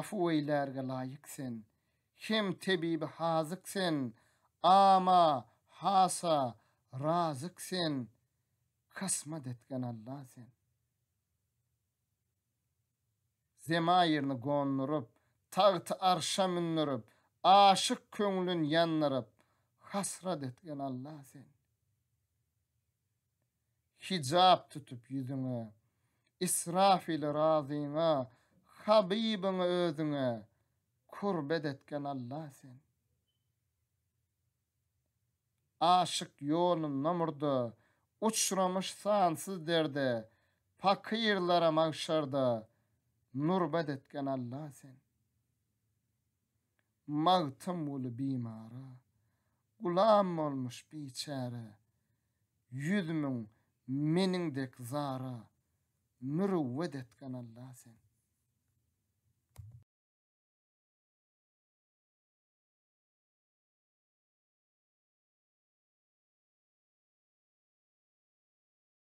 Afuweýlärge laýyk sen, Hem tebibi hazyk sen, Ama, hasa, razyk sen, Kasmat etgen Alla sen. Zemaýyryny gonduryp, Tagty arşa mündürip, Aşyk köňlün ýandyryp, Hasrat etgen Alla sen. Hijap tutup ýüzüňe, Israfili razyňa, Habybyňy özüňe Kurbet etgen Alla sen. Aşyk ýolunda murda, Uçramuş sansyz derde, Pakyrlara magşarda Nurbet etgen Alla sen. Magtymguly bimara Gulam bolmuş biçäre Ýüz müň meniň dek zara Mürüwwet etgen Alla sen.